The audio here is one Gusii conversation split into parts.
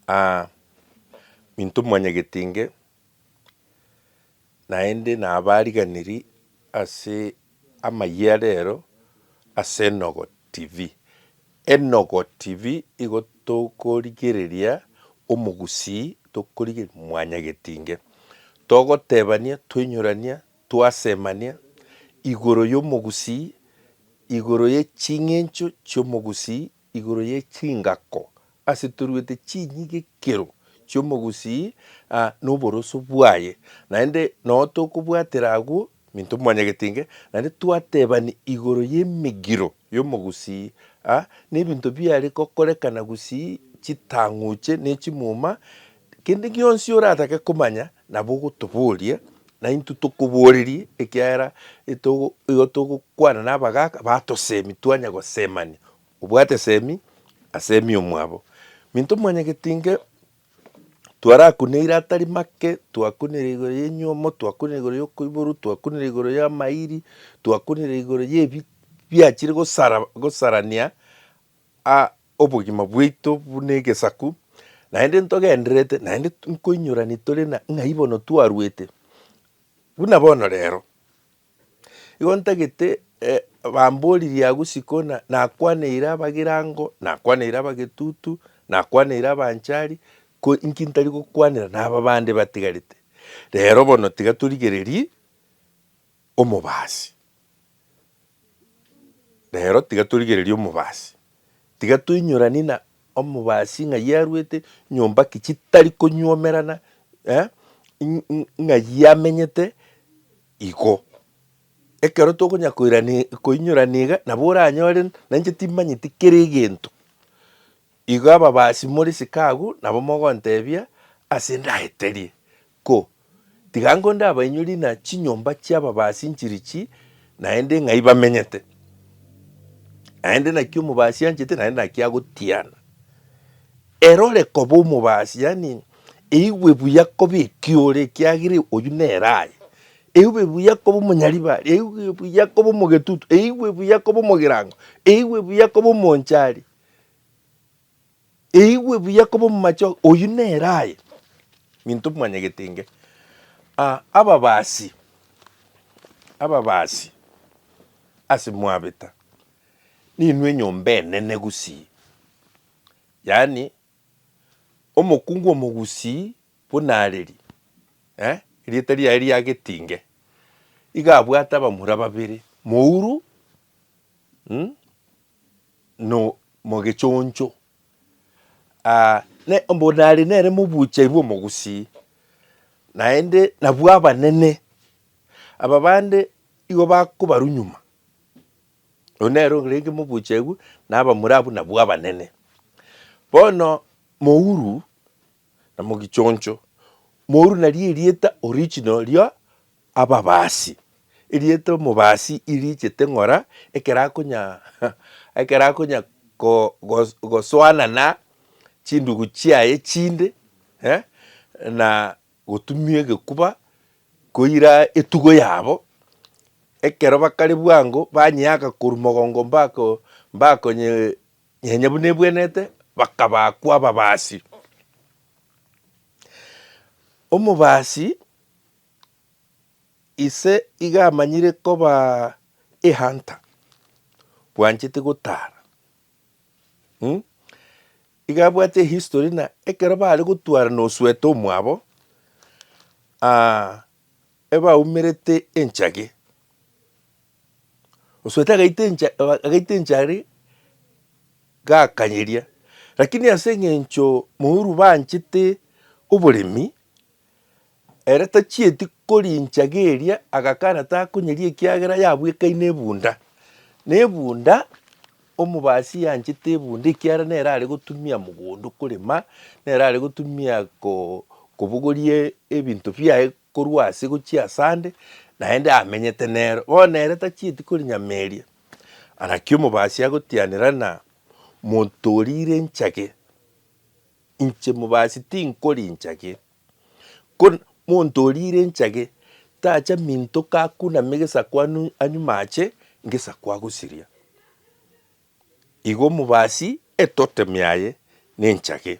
Aa, minto mwanyagete inge, naende nabariganiri ase amayia rero ase Enogo TV. Enogo TV igo tokorigereria omogusii tokorigereria mwanyagete inge. Togotebania, toinyorania, twasemania igoro yomogusii, igoro ye ching'encho chi'omogusii Igoro ye chingako asetoruete chinyigekero chi'omogusii noboroso bwaye, naende noo tokobwatera agwo minto mwanyagete inge, naende twatebani igoro y'emegiro y'omogusii nebinto biare gokorekana gusii chitang'uche nechimuma Kende gionsi oratake komanya nabo ogotoboria, na intwe tokoborerie, ekiagera etogo igo togokwana nabagaaka batosemi twanya gosemania. Obwate semi, asemi omwabo. Minto mwanyageti inge twarakuneire atari make, twakunire igoro ya enyomo, twakunire igoro ya okoiborwa, twakunire igoro ya amairi, twakunire igoro ya ebi biachire gosara gosarania Obogima bwaito buna egesaku, naende ntogendererete, naende nkoinyorani tore na ng'ai bono twaruete. Buna bono rero, igo ntagete bamboririe agwo sikona nakwaneire abagirango, nakwaneire abagetutu, nakwaneire abanchari, ko inki ntari gokwanera naba bande batigarete. Rero bono tiga torigererie. omobaasi. Rero tiga torigererie omobaasi, tiga toinyoranie na omobaasi ng'ai arwete nyomba ki chitari konyuomerana, eh, ng'ai amenyete igo. Ekero tokonya koirania koinyorania iga, nabo oranyore nainche timanyeti kera egento. Igo ababaasi more chikaagu nabo mogonteebia ase ndaeterie, Ko, tiga ango ndabainyorie na chinyomba chi'ababaasi nchirichi naende ng'ai bamenyete, naende naki omobaasi anchete naende naki agotiana. Ere ore koba omobaasi, yaani eigwe buya koba eki ore, ekiagera oyio nere aye. Eigwe buya koba omonyaribari, eigwe buya koba omogetutu, eigwe buya koba omogirango, eigwe buya koba omonchari. Eigwe buya koba omomache oyio nere aye minto mwanyagete inge ah, ababasi ababasi ase mwabeta ninwe enyomba enene gusii yaani omokungu omogusii buna areri eh, erieta riaye ria Getinge iga abwate abamura babere mouru mh nomogechoncho, aa, ne mbu nare nere mobuucheri bw'omogusii, naende nabwo abanene aba bande igo bakobarwa nyuma. Oyio nere orenge mobuucheri bwe, na abamura abwo nabwo abanene. Bono mouru na mogichoncho, moru nario erieta original ria Ababasi. Erieta omobasi irichete ng'ora ekero akonya ekero akonya ko gosoana na chindugu chiaye chinde eh, na gotumia egekuba koira etugo yabo, ekero bakare bwango banyeaka korwa mogongo mbako mbakonye Onye buna ebwenete, bakabaakwa ababaasi. Omobaasi ise iga amanyire koba ehunter, bwanchete gotara. Hmm? Iga abwate ehistory na ekero bare gotwara na oswete omwabo, ah, ebaumerete enchage. Osoete agaita encha agaita enchari gakanyeria, rakini ase eng'encho morubanchete oboremi, ere tachieti korincha geria agakana takonyeria ekiagera yabwekaine ebunda. Na ebunda, omobasi yanchete ebunda ekiara nere are gotumia mogondo korema, nere are gotumia ko kobogorie ebinto biaye korwa ase gochia asande, naende amenyete nero. Bono ere tachieti korinyameria, na naki omobaasi agotianera na monto oria ire enchake, inche mobaasi tinkori enchake. Ko monto oria ire enchake tacha minto kakuname gesaku anu anyuma ache ngesaku agosiria. Igo omobaasi etotem yaye nenchake.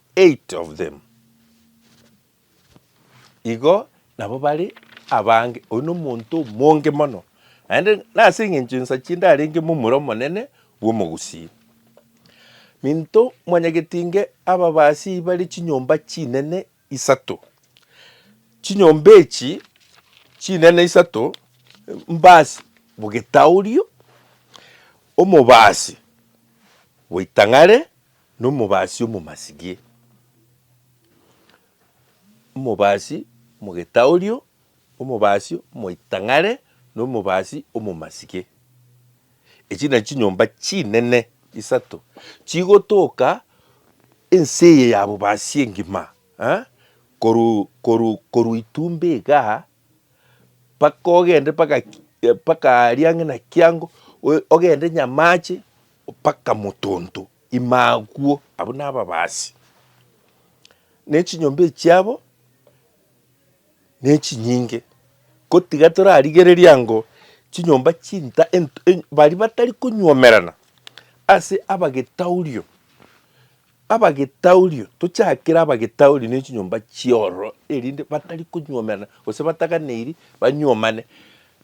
Eight of them igo nabo bare abange, oyio nomonto omonge mono, naende nase engencho ensacha ndarenge momura omonene bw'omogusii. Minto mwanyagetinge ababasii bare chinyomba chinene isato, chinyomba echi chinene isato mbasi bogetaorio, omobasi bwaitang'are. Nomobasi omomasirie, omobasi omogetaorio, omobasi omoitang'are, na omobasi omomasirie. Echi na chinyomba chinene isato chigotoka ense eye ya bobasi engima korwa korwa korwa itumbe igaa mpaka ogende mpaka mpaka aria ng'ina kiango ogende nyamache. Opaka motonto ime agwo. Abwo nababaasi, ne chinyomba echiabo nechinyinge, gotiga torarigereria ango chinyomba chinta baria batari konywomerana ase abagetaurio, abagetaurio tochakere abagetaurio ne chinyomba chiororo erinde batari konywomerana gose bataganeiri banywomane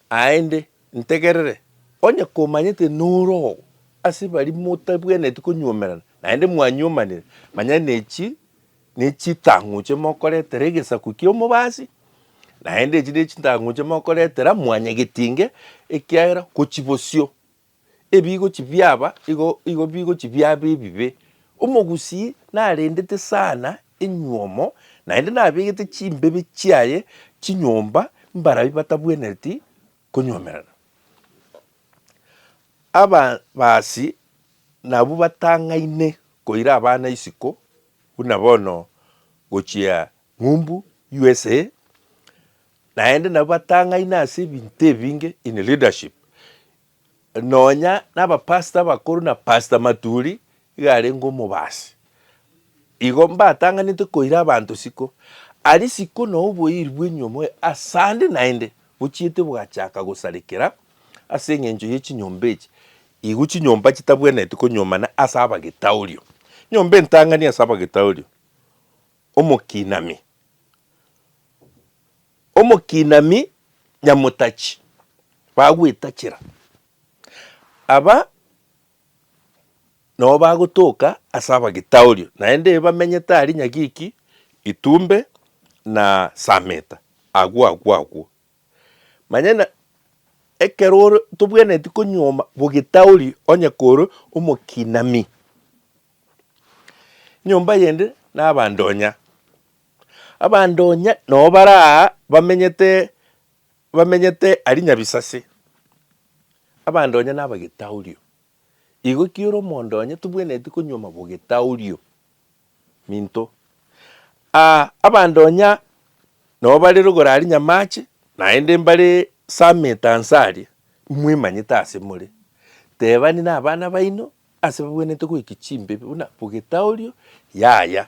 aende. Ntegerere, onye komanyete norogo ase baria motabwenereti konyuomerana, naende mwanyuomanire, manya nechi nechitang'uche mokoretera egesaku ki'omobasi, naende echi nechitang'uche mokoretera mwanyagetinge, ekiagera ngochia bosio, ebigochia biaba igo igo bigochia biaba ebibe. Omogusii narendete sana enyuomo, naende nabegete chimbebe chiaye chinyomba mbarabwo batabwenereti konyuomerana. Ababasi nabwo batang'aine koira abana isiko, buna bono gochia ng'umbu usa, naende nabwo batang'aine ase ebinto ebinge in leadership, Nonya nabapastor abakoro na Pastor Maturi iga arenge omobasi. Igo mbatang'anete koira abanto siko. Aria siko na oboiri bw'enyomo asande naende bochiete bwachaka gosarekera ase engencho ye chinyomba echi. Igo chinyomba chitabwenereti konyuomana ase abagetaorio. Nyomba entang'ani ase abagetaorio, omokinami. Omokinami nyamotachi bagwetachera, aba nao bagotoka ase abagitaoria, naende bamenyete aria Nyagiki, Itumbe, na Sameta, agwo agwo agwo. Manyena ekero ore tobwenereti konyuoma bogitaori onye kore omokinami, nyomba yende nabandonya. Abanto onye noo bare aa bamenyete bamenyete aria Nyabisase, abanto onye naba getaorio. Igo ki ore omonto onye tobwenereti konywa amabo getaorio? Minto. Aa abanto onya noo bare rogoro aria Nyamache, naende mbare Summit anse aria, mwemanyete ase more. Tebani nabana baino ase babwenerete goika chimbe buna bo getaorio yaya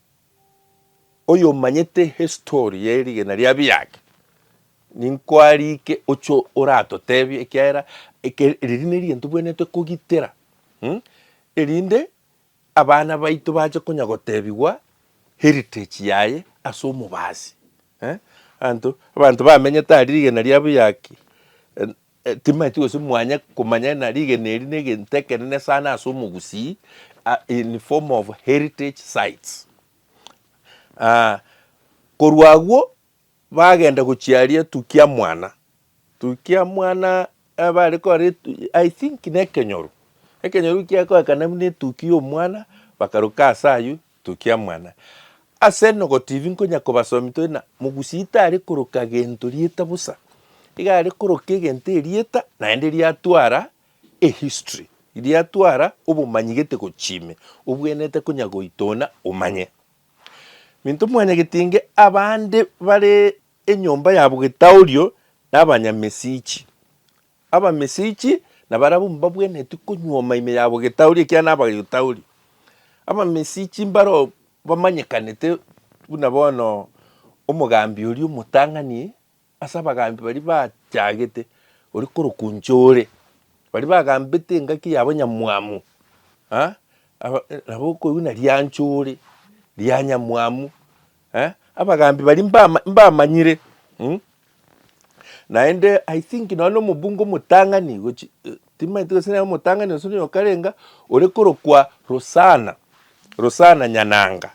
Oyomanyete history ye rigena ria biake ninkoarike oche oratotebie ekiagera eke riri nerigento bwenerete kogitera mh erinde abana baito bache konya gotebigwa heritage yaye ase omobasi eh abanto abanto bamenyete aria rigena ria biaki eh. E, Timaeti gose mwanya komanya ng'a rigena eri negento ekenene sana ase omogusii a- in form of heritage sites. Ah, korwa agwo bagenda gochia aria Tukiamwana. Tukiamwana eh, bare kore etu- I think nekenyoro, ekenyoro ekiagoekana buna etuki y'omwana bakaruka ase ayio Tokiamana. Ase nogotibi nkonya kobasomi tore na mogusie tare koroka gento rieta bosa, iga are koroka egento erieta naende riatwara ehistory, riatwara obomanyi gete gochia ime, obwenerete konya goitona omanye. Minto mwanyagete inge abande bare enyomba yabo getaorio na abanyamesichi, Abamesichi nabarabwo mbabwenereti konyuoma ime yabo getauri, ekiagera nabageio tauri. Abamesichi mbaro bamanyekanete buna bono omogambi oria omotang'ani ase abagambi baria bachagete, oria korokwa inche ore, baria bagambete engaki ya abanyamwamu nabo okoigwa buna rianche ore, rianyamwamu, Eh, abagaambi baria mbama- mbamanyire mm? naende i think nonya na omobunge omotang'ani gochi eh, timanyete gose nere omotang'ani gose nonya okarenga ore korokwa rosana rosana nyananga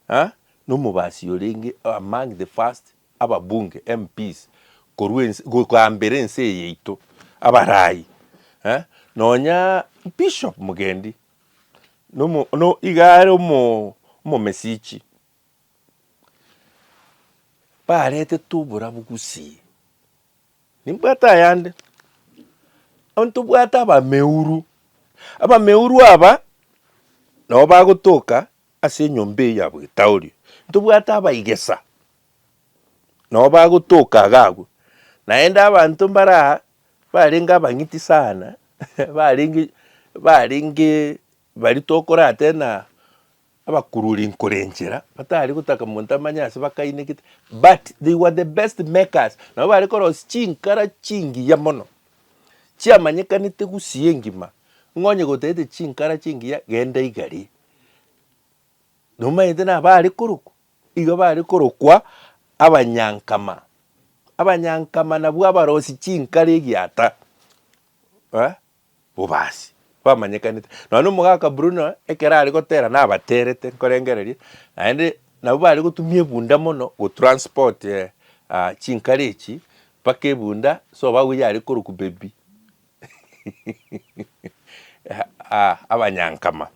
ah, nomobasi orenge among the first ababunge mps korwa ense gokaambera ense eye yaito abaraai eh, nonya bishop mugendi Nomo no iga are omo omomesichi, baretete oborabu gusii. Nimbwate ayande, onye tobwate abameuru, abameuru aba, nabo bagotoka ase enyomba eye ya bwetauri, ntobwate abaigesa, nabo bagotoka iga abwo, naende abanto mbare aa. barenge abang'iti sana, barenge barenge baria tokorate na abakururi nkorenchera, batari gotaka monto amanye ase bakainekete, but they were the best makers, nabo bare korosia chinkara chingiya mono, chiamanyekanete gusii engima, ng'a onye gotaete chinkara chingiya genda igari, nomanyete nabo arekorokwa. Igo bare korokwa abanyankama. Abanyankama nabwo abarosi chinkari egiata eh, bobasi bamanyekanete. Nonya omogaka Bruno ekero are gotera nabaterete nkorengereria, naende nabo bare gotumia ebunda mono go transport chinkari echi mpaka ebunda so babu yare korokwa baby Ah, abanyankama.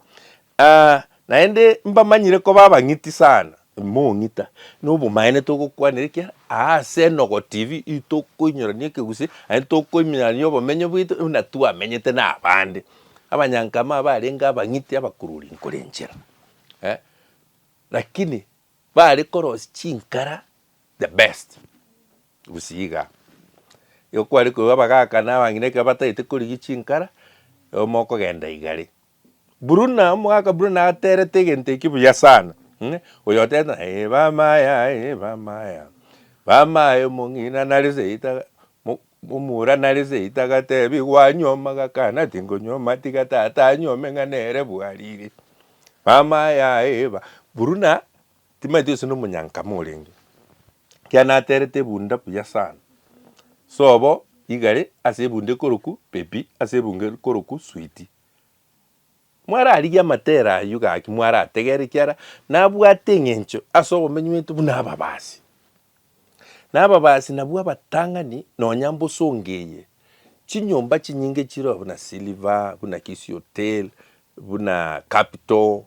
Ah, naende mbamanyire koba abang'iti sana. Mong'ita. Nobomaene togokwanera ekia, aase enogo TV ii tokoinyorania ekegusii, aye tokoiminyorania obomenyo bwaito buna twamenyete na abande. Abanyankama abarenge abang'iti abakururi nkore enchera. Eh, lakini bare korosia chinkara the best. Gusika igo kware korwa abagaka na abang'ina ekero batagete korigia chinkara, oyomo okogenda igare. Bruna, omogaka Bruna aterete egento ekio buya sana, mh, oyo oteta eh bamaya eh bamaya, bamaya omong'ina nare seita mo- momura nare seita gatebi gwanyuoma gakana tingonyuoma tiga tata anyuome ng'a nere bwariri. Bamaya eh ba, Bruna timanyeti gose nomonyankama orenge. Ekiagera naterete ebunda buya sana. Sobo igare ase ebunda ekoroku Pepi ase ebunga ekoroku Switi. Mwararigie amatera ayio gaki mwarategere ekiara nabwate eng'encho ase obomenyi bwaito buna ababasi. Na ababasi nabwo abatang'ani nonya mbosongo eye, chinyomba chinyinge chireo buna Silver, buna Kisii Hotel, buna Capital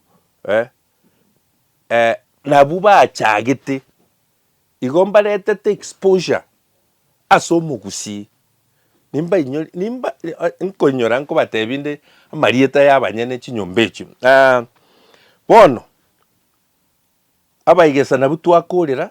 eh. eh, nabwo bachagete igo mbaretete exposure ase omogusii nimbainyori nimba nkoinyora nkobatebi nde amarieta ya abanyene chinyomba echio ah, bono abaigesanabwo twakorera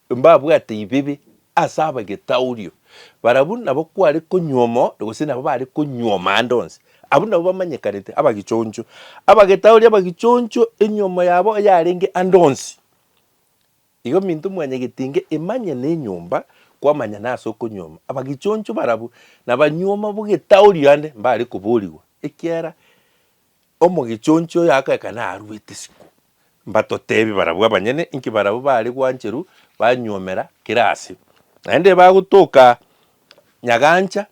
mbabwate ibibi ase ab'egetaurio, barabwo nabo kware konyuoma onde, gose nabo bare konyuoma ande onsi. Abwo nabo bamanyekanete abagichoncho, ab'egetaurio abagichoncho, enyuomo yabo eyarenge ande onsi. Igo minto mwanyagetinge imanye nenyomba, kwamanyana ase okonyuoma. Abagichoncho barabwo nabanyuoma b'egetaurio ande mbare koborigwa, ekiagera Omogichonchi oyo agoeka naruete isiko. Mbatoteebie barabwo abanyene, inki barabwo baare gwancheru banyuomera kera aase, naende bagotoka nyagancha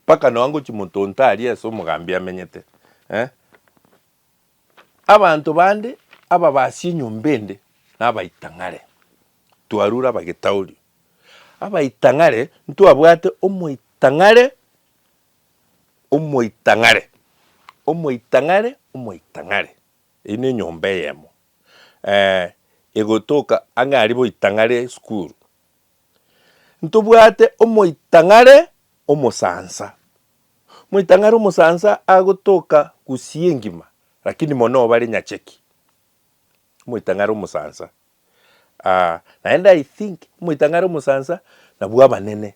mpaka nonya ngochia monto onto aria ase omogambi amenyete. Eh, abanto bande ababasia enyomba ende nabaitang'are, twarure abagitauri. Abaitang'are, ntwabwate omoitang'are Omoitang'are, omoitang'are, omoitang'are, eyio ne enyomba eyemo egotoka ang'e aria boitang'are esukuru. Ntobwate omoitang'are omosansa, omoitang'are omosansa agotoka gusii engima lakini mono obare nyacheki, omoitang'are omosansa naende I think omoitang'are omosansa nabwo abanene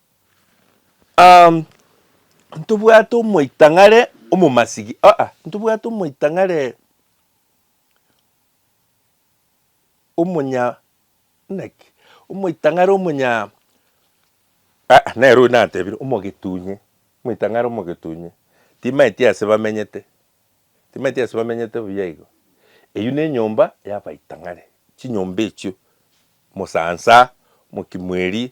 Um, ntobwate omoitang'are omomasigi aa ntobwate omoitang'are omonya naki omoitang'are omonya aa nere oyo natebire omogetunye omoitang'are omogetunye timaeti ase bamenyete timaeti ase bamenyete buya igo eywo ne enyomba ya abaitang'are chinyomba echio mosansa mokimweri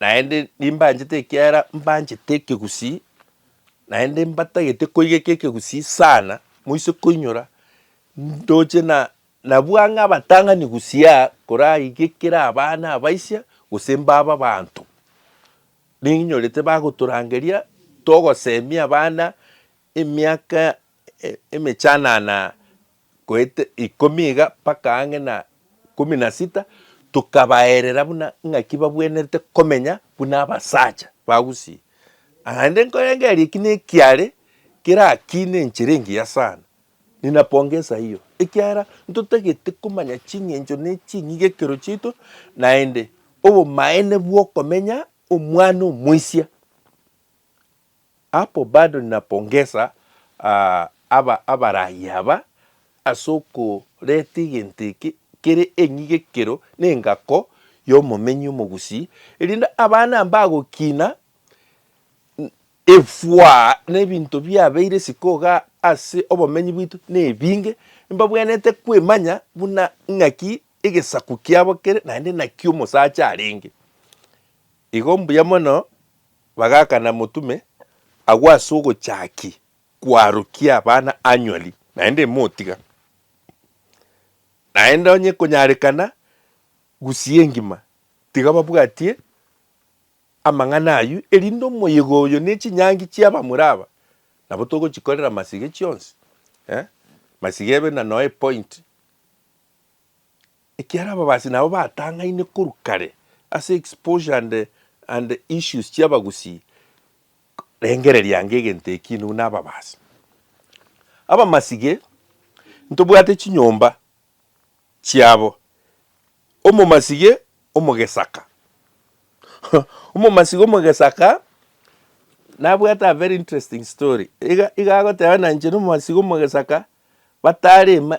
Naende nimbanchete ekiagera mbanchete ekegusii, naende mbatagete koigeka ekegusii sana, moise koinyora ndoche na nabua ng'a abatang'ani gusii koraigekera abana abaisia gose mbabe abanto. Ninyorete bagotorangeria togosemia abana emiaka. emechanana goeta ikomi iga mpaka ang'e na ikomi na sita, tokabaerera buna ng'aki babwenerete komenya buna abasacha ba Gusii. Naende nkorengereria eki nekiare kerakiine enchera engiya sana. Ninapongesa hiyo ekiagera ntotagete komanya ching'encho ne ching'igekero chiaito naende obomaene bwokomenya omwana omoisia. Hapo bado ninapongesa aba abaraai aba ase okoreta egento eke kere eng'ige ekero nengako y'omomenyi omogusii, erinde abana mbagokina efwa na ebinto biabeire isiko iga ase obomenyi bwaito nebinge, mbabwenerete kwemanya buna ng'aki egesaku kiabo kere naende naki omosacha arenge. Igo mbuya mono. Bagakana motume agwo ase ogochaki kwarokia abana anywali, naende motiga, naende onye konyarekana gusia engima, tiga babwatie amang'ana ayio, erinde omoyega oyo ne chinyangi chia abamura aba nabo togochikorera masiga chionsi, eh, masiga ebe na noe point. ekiara ababasi nabo batang'aine korwa kare ase exposure and and issues chia abagusii, rengereria ange egento ekio inwe na ababasi. Abamasige ntobwate chinyomba chiabo, omomasige omogesaka omomasige omogesaka nabwate a very interesting story, iga iga agoteba na inche na omomasige omogesaka batare ime.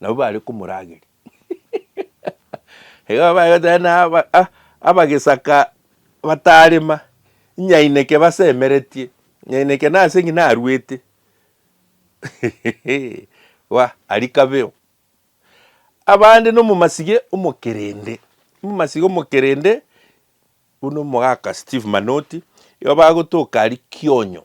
Nabo bare komorageria. Igo bare goteba naba ah abagesaka batarema, nyaineke basemeretie, nyaineke nase ng'ina aruete. Wa aria kabeo. Abande na omomasige omokerende, omomasige omokerende buna omogaka Steve Manoti, igo bagotoka aria Kionyo.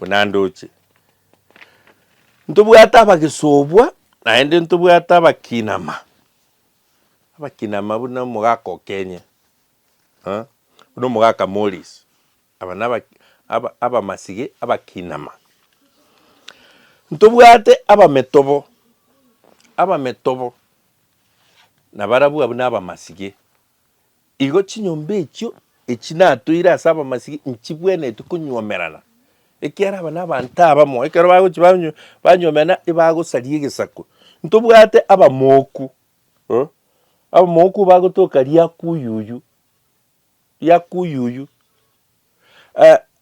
buna ndoche. Ntobwate abagesobwa naende ntobwate abakinama, abakinama buna omogaka Okenye, buna omogaka Morris, aba naba abamasiga abakinama. Ntobwate abametobo, abametobo nabarabwo abwo nabamasiga Igo chinyomba echio echi natoire ase abamasiria nchibwenereti konywomerana, ekiagera aba nabaanto abamo, ekero bagochia banywomerana ebagosaria egesaku. Ntobwate abamooku, abamooku bagotoka riakuyuyu, riakuyuyu.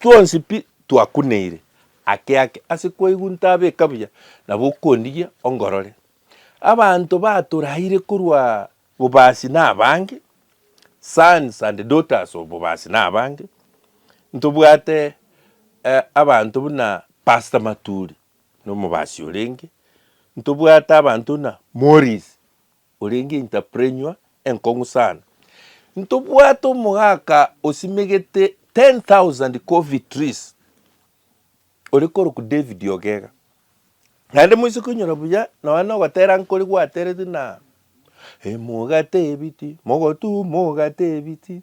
Twonsi pi twakuneire ake ake ase kwaigunta abeka buya na bokondigia ongorore. Abanto batoraire korwa bobasi na abange, sons and daughters of bobasi na abange. Ntobwate eh, abanto buna Pastor Maturi, nomobasi orenge. Ntobwate abanto buna Morris, Orenge entrepreneur enkong'u sana. Ntobwate omogaka osimegete 10,000 coffee trees ore korokwa David Ogega. Naende moise koinyora buya nonya nogotera nkore gwatereti na Emogate ebiti, mogotu mogate ebiti.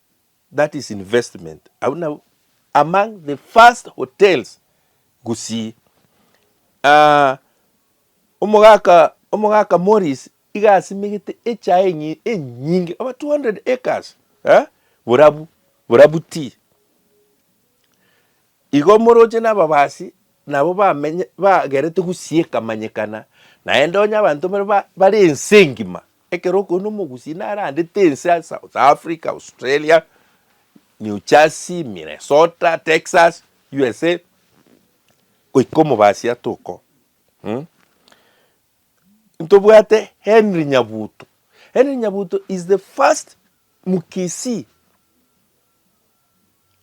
that is investment abwo nabwo among the first hotels gusii aah omogaka omogaka Morris iga asimegete echae enyi enyinge over 200 acres eh borabu borabu tea. Igo omoroche na ababasi nabo bamenye bagerete gusieka manyekana, naende onye abanto mbare ba bare ense engima, ekero okoigwa na omogusii narandete ense ya South Africa, Australia, New Jersey, Minnesota, Texas, USA, goika omobasi atoka oo mh. Ntobwate Henry Nyabuto, Henry Nyabuto is the first mkisii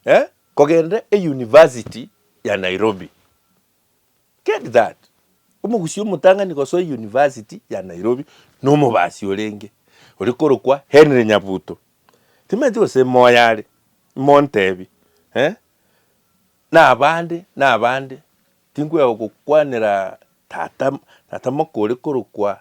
eh, kogenda euniversity ya Nairobi. Get that? Omogusii omotang'ani gosoa euniversity ya Nairobi nomobasi orenge oria korokwa Henry Nyabuto. Timaeti gose moyo are, montebi eh, nabande nabande, tinkwea gokwanera tata tata moka oria korokwa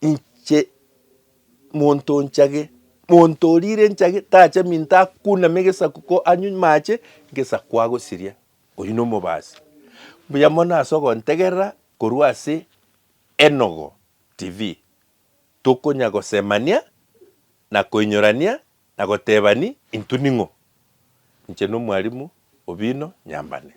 Inche monto onchage, monto orire enchage tacha minto akuname egesaku ko anywe amache, egesaku agosiria, oyio na omobasi. Mbuya mono ase ogontegerera korwa ase Enogo TV, tokonya gosemania, na koinyorania, na gotebani intwe ning'o. Inche nomwarimu Obino Nyambane.